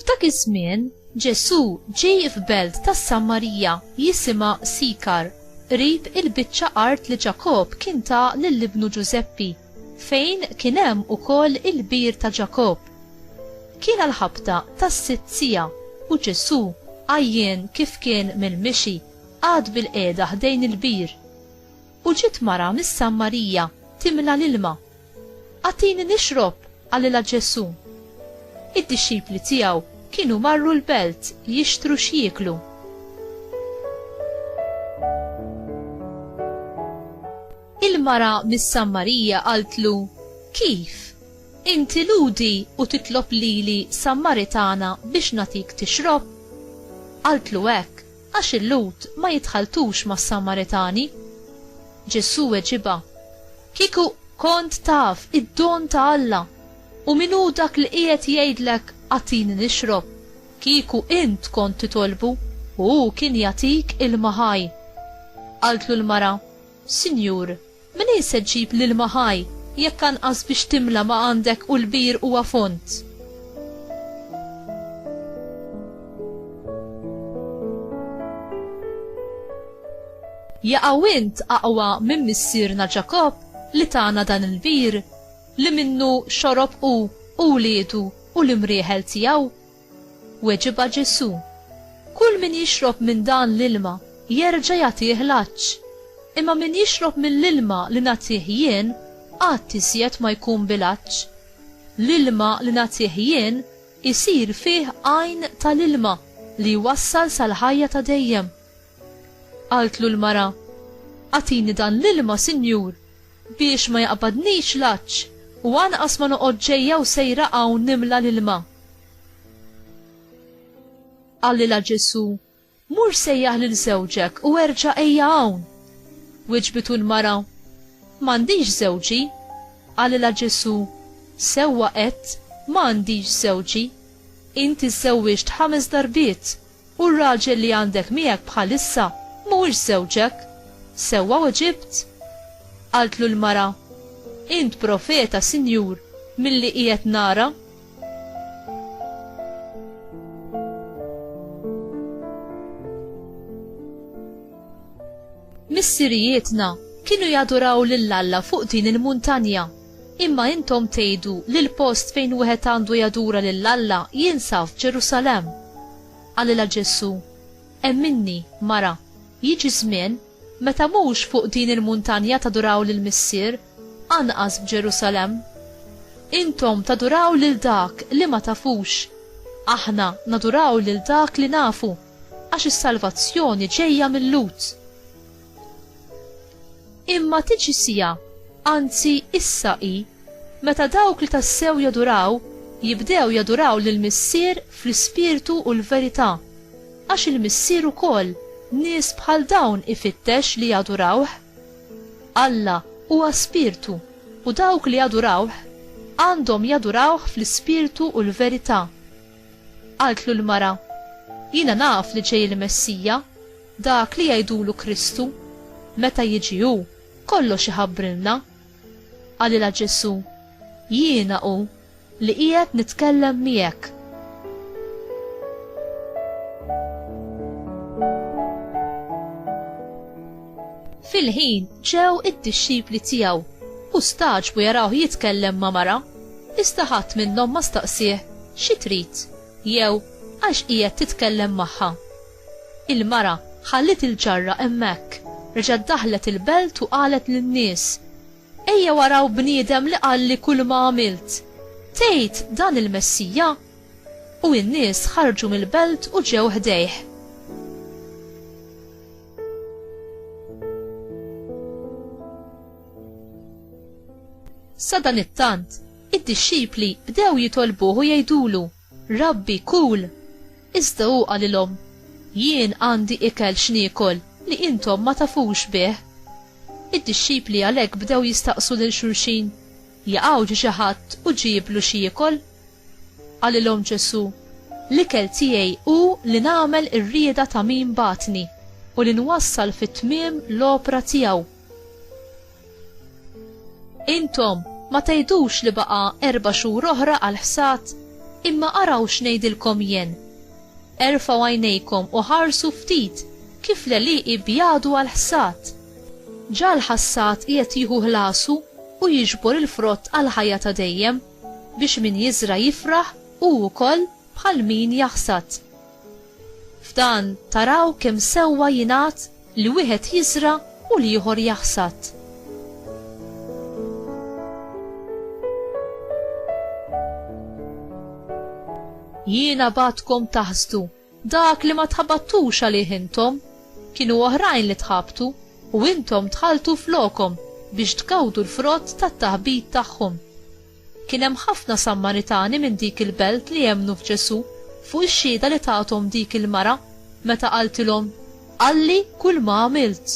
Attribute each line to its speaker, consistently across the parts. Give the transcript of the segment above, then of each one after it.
Speaker 1: F'dak iż-żmien, Ġesù ġej f'belt tas-Samarija jisimha Sikar, qrib il-biċċa art li Ġakobb kien ta lil ibnu Ġużeppi. fejn kien hemm ukoll il-bir ta' Ġakobb. Kien għall-ħabta tas-sitt siegħa u Ġesù, għajjien kif kien mill-mixi, qagħad bilqiegħda ħdejn il-bir. U ġiet mara mis-Sammarija timla l-ilma. Agħtini nixrob, qalilha Ġesù. Id-dixxipli tiegħu kienu marru l-belt jixtru x'jieklu. Il-mara mis-Sammarija qaltlu, Kif? Inti Lhudi u titlob lili Sammaritana biex nagħtik tixrob? Qaltlu hekk għax il-Lhud ma jitħalltux mas-Sammaritani. Ġesù weġibha, Kieku kont taf id-don ta' Alla u min hu dak li qiegħed jgħidlek agħtini nixrob, kieku int kont titolbu u hu kien jagħtik ilma ħaj. Qaltlu l-mara, Sinjur, mnejn se ġġib l-ilma ħaj, jekk anqas biex timla ma għandek u l-bir huwa fond? Jaqaw int aqwa minn missierna Ġakobb li tana dan il-bir, li minnu xorob hu, u wliedu, u l-imrieħel tiegħu? Weġibha Ġesù, Kull min jixrob minn dan l-ilma jerġa' jagħtih l-għatx, imma min jixrob mill-ilma li nagħtih jien qatt iżjed ma jkun bil-għatx. L-ilma li nagħtih jien isir fih għajn ta' l-ilma li jwassal sal-ħajja ta' dejjem. Qaltlu l-mara, Agħtini dan l-ilma, Sinjur, Biex ma jaqbadnix l-għatx. U anqas ma noqgħod ġejja u sejra hawn nimla l-ilma. Qalilha Ġesù, Mur sejjaħ lil żewġek u erġa' ejja hawn. Wiġbitu l-mara, M'għandix żewġi. Qalilha Ġesù, Sewwa għedt, 'Ma għandix żewġi. Int iżżewwiġt ħames darbiet, U r-raġel li għandek miegħek bħalissa mhuwiex żewġek? Sewwa weġibt? Qaltlu l-mara, Int profeta, Sinjur, milli qiegħed nara. Missirijietna kienu jaduraw lil Alla fuq din il-muntanja. Imma intom tgħidu li l-post fejn wieħed għandu jadura lil Alla jinsab f'Ġerusalemm. Qalilha Ġesù, Emminni, mara, jiġi żmien, meta mhux fuq din il-muntanja taduraw lill-Missier, anqas f'Ġerusalemm. Intom taduraw lil dak li ma tafux. Aħna naduraw lil dak li nafu, għax is-salvazzjoni ġejja mil-Lhud. Imma tiġi siegħa, anzi issa hi, meta dawk li tassew jaduraw jibdew jaduraw lill-Missier fl-ispirtu u l-verità, għax il-Missier ukoll nies bħal dawn ifittex li jadurawh. Alla huwa spirtu u dawk li jadurawh għandhom jadurawh fl-ispirtu u l-verità. Qaltlu l-mara, Jiena naf li ġej il-Messija. Dak li jgħidulu Kristu, meta jiġi hu, kollox iħabbrilna. Qalilha Ġesù, Jiena hu li qiegħed nitkellem miegħek. Fil-ħin ġew id-dixxipli tiegħu u stagħġbu jarawh jitkellem ma' mara, iżda ħadd minnhom ma staqsieh, Xi trid? jew Għax qiegħed titkellem magħha? Il-mara ħalliet il-ġarra hemmhekk, reġgħet daħlet il-belt u qalet lin-nies, Ejjew araw bniedem li qalli kulma għamilt. Tgħid dan il-Messija? U n-nies ħarġu mill-belt u ġew ħdejh. Sadanittant, id-dixxipli bdew jitolbuh u jgħidulu, Rabbi, kul! Iżda hu qalilhom, Jien għandi ikel x'niekol li intom ma tafux bih. Id-dixxipli għalhekk bdew jistaqsu lil xulxin, Jaqaw ġie xi ħadd u ġieblu x'jiekol? Qalilhom Ġesù, L-ikel tiegħi hu li nagħmel ir-rieda ta' min bagħatni u li nwassal fit-tmiem l-opra tiegħu. Intom ma tgħidux li baqa' erba' xhur oħra għall-ħsad? Imma araw x'ngħidilkom jien, Erfgħu għajnejkom u ħarsu ftit kif l-għelieqi jbjadu għall-ħsad! Ġa l-ħassad qiegħed jieħu ħlasu u jiġbor il-frott għall-ħajja ta' dejjem, biex min jiżra' jifraħ hu wkoll bħal min jaħsad. F'dan taraw kemm sewwa jingħad li wieħed jiżra' u l-ieħor jaħsad. Jiena bagħtkom taħsdu dak li ma tħabattux għalih intom, kienu oħrajn li tħabtu u intom dħaltu flokhom biex tgawdu l-frott tat-taħbit tagħhom. Kien hemm ħafna Sammaritani minn dik il-belt li emmnu f'Ġesù, fuq ix-xhieda li tathom dik il-mara, meta qaltilhom, Qalli kulma għamilt.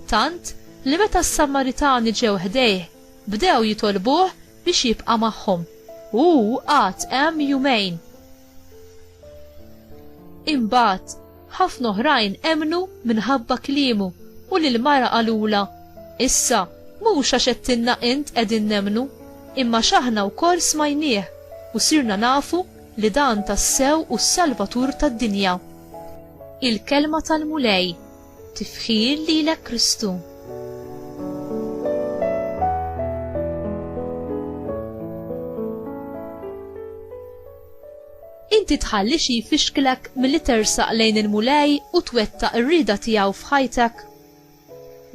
Speaker 1: Tant, li meta s-Sammaritani ġew ħdejh, bdew jitolbuh biex jibqa' magħhom. U hu qagħad hemm jumejn. Imbagħad, ħafna oħrajn emnu minħabba kliemu u lil mara qalula, issa mhux għax qedtilna int qegħdin nemnu, imma x'aħna wkoll smajnieh u sirna nafu li dan tassew hu s-Salvatur tad-dinja. Il-kelma tal-Mulej Tifħir lilek Kristu. Inti tħalli xi jfixklek milli tersaq lejn il-Mulej u twettaq ir-rieda tiegħu f'ħajtek?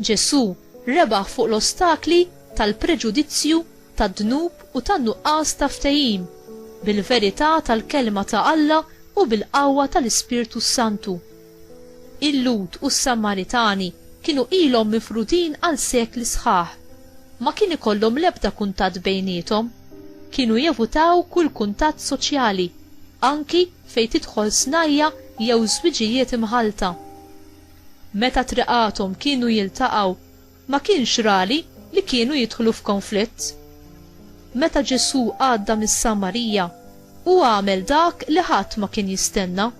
Speaker 1: Ġesù rebaħ fuq l-ostakli tal-preġudizzju, tad-dnub u tan-nuqqas ta' ftehim bil-verità tal-Kelma ta' Alla u bil-qawwa tal-Ispirtu s-Santu. Il-Lhud u s-Samaritani kienu ilhom mifrudin għal sekli sħaħ. Ma kien ikollhom l-ebda kuntatt bejniethom. Kienu jevutaw kull kuntatt soċjali, anki fejn tidħol snajja' jew żwiġijiet imħallta. Meta triqathom kienu jiltaqgħu, ma kienx rali li kienu jidħlu f'konflitt. Meta Ġesù għadda mis-Samarija, hu għamel dak li ħadd ma kien jistenna,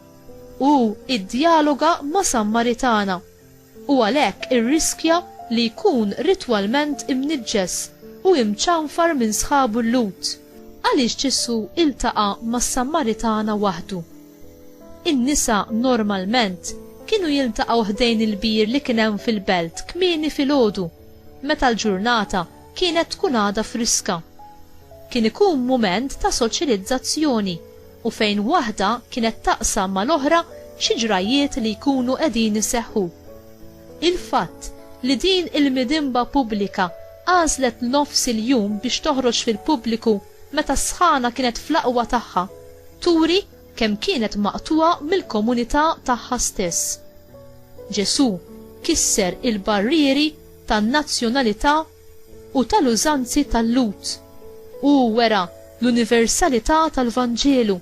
Speaker 1: hu iddjaloga ma' Sammaritana, u għalhekk irriskja li jkun ritwalment imniġġes u imċanfar minn sħabu l-Lhud. Għaliex Ġesù iltaqa' mas-Sammaritana waħdu? In-nisa normalment kienu jiltaqgħu ħdejn il-bir li kien hemm fil-belt kmieni filgħodu, meta l-ġurnata kienet tkun għadha friska. Kien ikun mument ta' soċjalizzazzjoni u fejn waħda kienet taqsam mal-oħra xi ġrajjiet li jkunu qegħdin iseħħu. Il-fatt li din il-midinba pubblika għażlet nofs il-jum biex toħroġ fil-pubbliku meta s-sħana kienet fl-aqwa tagħha, turi kemm kienet maqtugħa mill-komunità tagħha stess. Ġesù kisser il-barrieri tan-nazzjonalità u tal-użanzi tal-Lhud. Hu wera l-universalità tal-Vanġelu.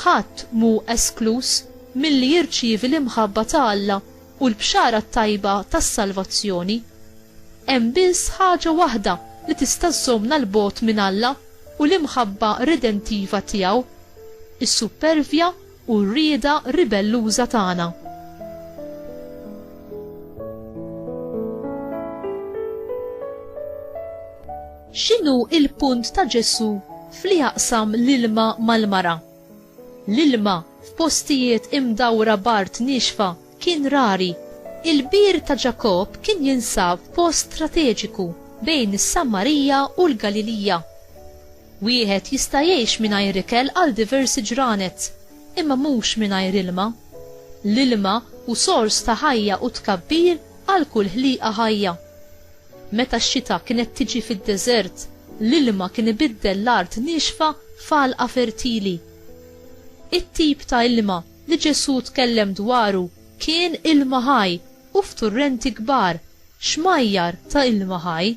Speaker 1: Ħadd mhu eskluż milli jirċievi l-imħabba ta' Alla u l-Bxara t-Tajba tas-salvazzjoni. Hemm biss ħaġa waħda li tista' żżommna 'l bogħod minn Alla u l-imħabba redentiva tiegħu, is-suppervja u r-rieda ribelluża tagħna. X'inhu l-punt ta' Ġesù f'li jaqsam l-ilma mal-mara? L-ilma, f'postijiet imdawra b'art niexfa, kien rari. Il-Bir ta' Ġakobb kien jinsab f'post strateġiku bejn is-Sammarija u l-Galilija. Wieħed jista' jgħix mingħajr ikel għal diversi ġranet, imma mhux mingħajr ilma. L-ilma hu sors ta' ħajja u tkabbir għal kull ħliqa ħajja. Meta x-xita kienet tiġi fid-deżert, l-ilma kien ibiddel l-art niexfa f'għalqa fertili. It-tip ta' ilma li Ġesù tkellem dwaru kien ilma ħaj u f'turrenti kbar, xmajjar ta' ilma ħaj.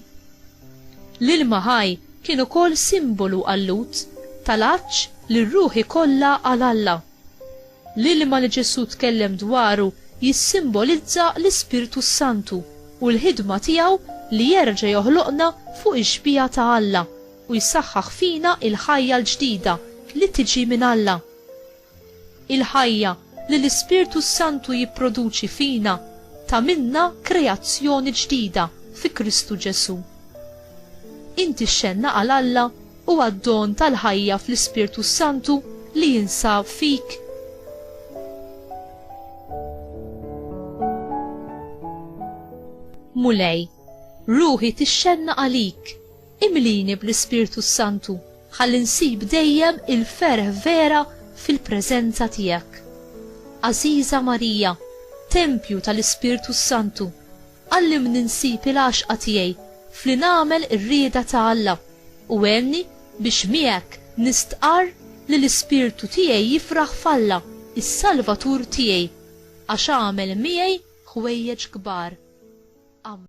Speaker 1: L-ilma ħaj kien ukoll simbolu għal-Lhud, tal-għatx li r-ruħi kollha għal Alla. L-ilma li Ġesù tkellem dwaru jissimbolizza l-Ispirtu s-Santu u l-ħidma tiegħu li jerġa' joħloqna fuq ix-xbieha ta' Alla u jsaħħaħ fina l-ħajja l-ġdida li tiġi minn Alla. Il-ħajja li l-Ispirtu s-Santu jipproduċi fina tagħmilna kreazzjoni ġdida fi Kristu Ġesù. Inti x'għenna għal Alla huwa d-don tal-ħajja fl-Ispirtu s-Santu li jinsab fik. Mulej, ruħi tixxenna għalik, imlini bl-Ispirtu s-Santu, ħalli nsib dejjem il-ferħ vera fil-preżenza tiegħek. Għażiża Marija, tempju tal-Ispirtu s-Santu, Għallimni nsib il-għaxqa tiegħi f'li nagħmel ir-rieda ta' Alla, u għenni biex miegħek nistqarr li l-ispirtu tiegħi jifraħ f'Alla, is-Salvatur tiegħi, għax għamel miegħi ħwejjeġ kbar. Ammen.